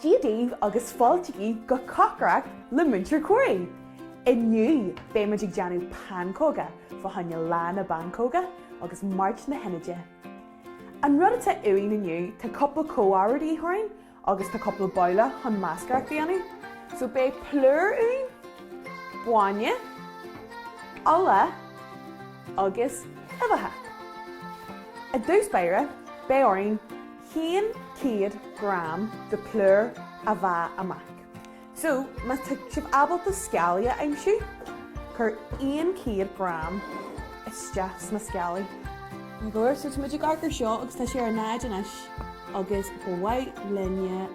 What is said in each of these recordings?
Dia daoibh agus fáiltigí go cócaireacht le Muintir Corry! Inniu beidh muid ag déanamh pancóga fá choinne Lá na bPancóga agus Máirt na hInide. An rud atá uainn inniu, tá cúpla comhábhar de dhíth orainn, agus tá cúpla babhla chun meascaireacht a dhéanamh so beidh plúr uainn, bainne, ola agus uibheacha. I dtús báire beidh orainn 100 gram de plúr a mheá amach. So, má tá sibh ábalta scálaí a aimsiú, cuir aon 100 gram isteach sna scálaí. Maith go leor, so tá muid ag amharc ar seo agus tá sé ar 0 anois agus ba mhaith linne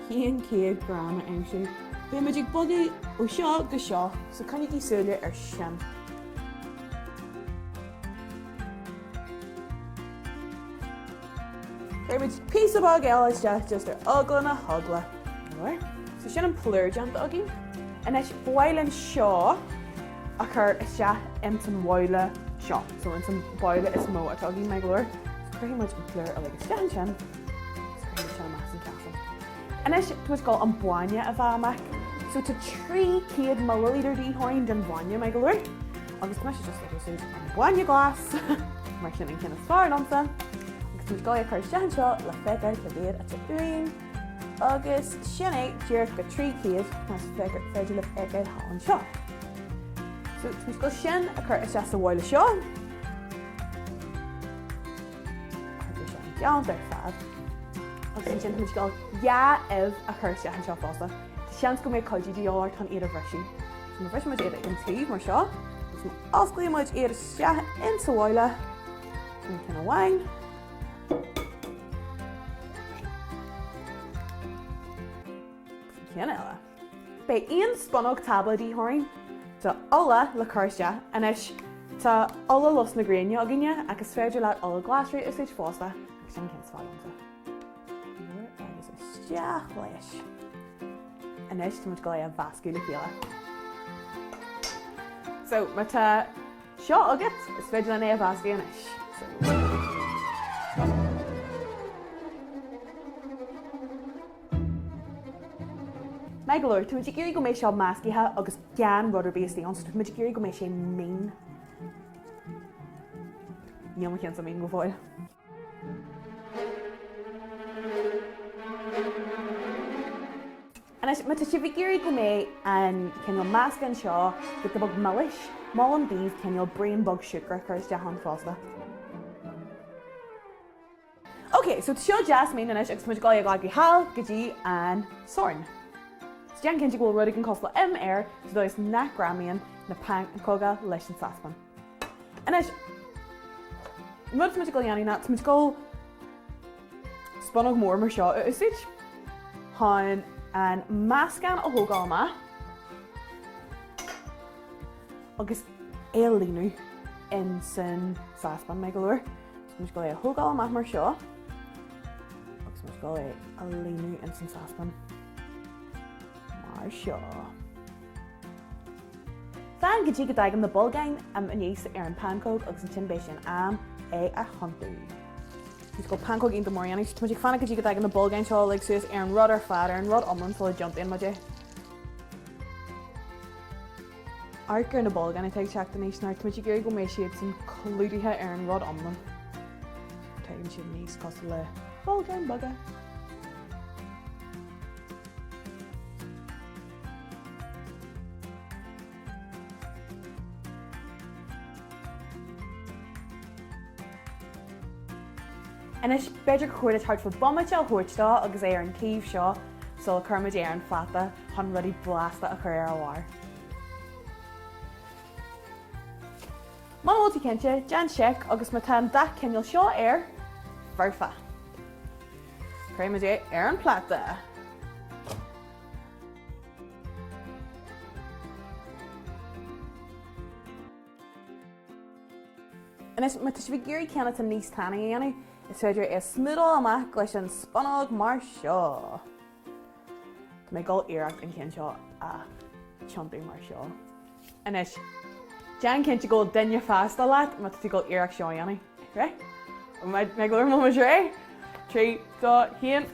100 gram a aimsiú. Beidh muid ag bogadh ó seo go seo, so coinnigí súile ar sin. Cuirfidh muid píosa beag eile isteach just ar eagla na heagla. Maith go leor. So sin an plúr déanta againn. Anois ba mhaith linn seo a chur isteach ins an bhabhla seo. So ins an bhabhla is mó atá againn, maith go leor. So cuirfidh muid an plúr uilig isteach ansin agus cuirfidh muid sin amach as an chosán. Anois tá muid ag gabháil an bainne a mheá amach. So tá 300 milliliter de dhíth orainn den bhainne, maith go leor. Agus tá mise just ag úsáid an bainne glas mar sin an ceann is fearr liomsa agus tá muid ag gabháil a chur isteach anseo le feiceáil cá mhéad atá againn agus sin é díreach go 300 más féidir libh a fheiceáil anseo. So tá muid ag gabháil sin a chur isteach sa bhabhla seo. Agus sin déanta ar fad. Agus ansin tá muid ag gabháil dhá ubh a chur isteach anseo fosta. Seans go mbeidh cuidiú de dhíth oraibh chun iad a bhriseadh. Má bhriseann muid iad ag an taobh mar seo agus má osclaíonn muid iad isteach ins sa bhabhla sin ceann amháin, agus an ceann eile, beidh aon spunóg tábla de dhíth orainn de ola le cur isteach. Anois, tá ola lus na gréine againne ach is féidir leat ola glasraí a úsáid fosta agus sin an ceann is fearr liomsa. Go leor agus isteach leis. Anois táimid ag gabháil é a mheascadh le chéile. So, má tá seo agat, is féidir leat é a mheascadh anois. Maith go leor. Táimid ag iarraidh go mbeidh seo meascaithe agus gan rud ar bith istigh ann, so táimid ag iarraidh go mbeidh sé mín. Níl mo chionnsa mín go fóill. Anois, má tá sibh ag iarraidh go mbeidh an cineál measctha anseo de a bheith milis, molaim daoibh cineál braon bog siúcra a chur isteach ann fosta. Ok, so tá seo deas mín anois agus táimid ag dul ag a ghabháil sall go dtí an sorn. So déan cinnte go bhfuil rud éigin cosúil le im air, sa dóigh nach ngreamaíonn na pancóga leis an saspan. Anois, an rud atá muid ag gabháil a dhéanamh ná tá muid ag gabháil spunóg mór mar seo a úsáid chun an meascán a thógáil amach agus é a líonadh ins an sáspan maith go leor. Tá muid ag gabháil é a thógáil amach mar seo agus tá muid ag gabháil é a líonadh ins an sáspan mar seo. Fan go dtí go dtagann na bolgáin aníos ar an pancóg agus ansin beidh sé in am é a thiontú. So pancóg iontach mór anois. Tá muid ag fanacht go dtí go dtagann na bolgáin seo uilig suas ar an rud ar fad, ar an rud iomlán sula dtiontaíonn muid é. Amharc ar na bolgáin atá ag teacht aníos mar tá muid ag iarraidh go mbeidh siadsan clúdaithe ar an rud iomlán. Tagann siad aníos cosúil le bolgáin beaga. Anois, b'fhéidir gur chóir duit thart fá bomaite a thabhairt dó agus é ar an taobh seo sula gcuireann muid é ar an phláta chun rudaí blasta a chur ar a bharr. Muna bhfuil tú cinnte, déan seic agus má tá an dath cineál seo air, foirfe. Cuirfidh muid é ar an phláta. Anois, má tá sibh ag iarraidh ceann atá níos tanaí a dhéanamh, is féidir é a smúdáil amach leis an spunóg mar seo. Tá mé ag dul iarracht an ceann seo a thiontú mar seo. Anois, déan cinnte go bhfuil duine freastail leat má tá tú ag dul iarracht seo a dhéanamh. Reidh? An mbeidh mé glóir mo muis ré? Trí, dó, chéan.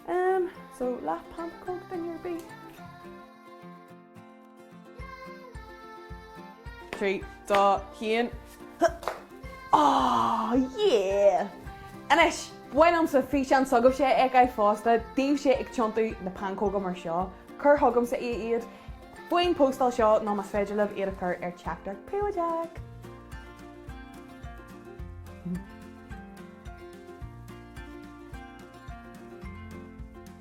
Um, so lap pump coke then your bee. trí, dó, haon, Á! Yeah! Anois, ba mhian liomsa físeán s'agaibhse a fheiceáil fosta díbhse ag tiontú na pancóga mar seo, cuir chugamsa iad faoin bpóstáil seo nó más féidir libh iad a chur ar teachtaireacht phríobháideach.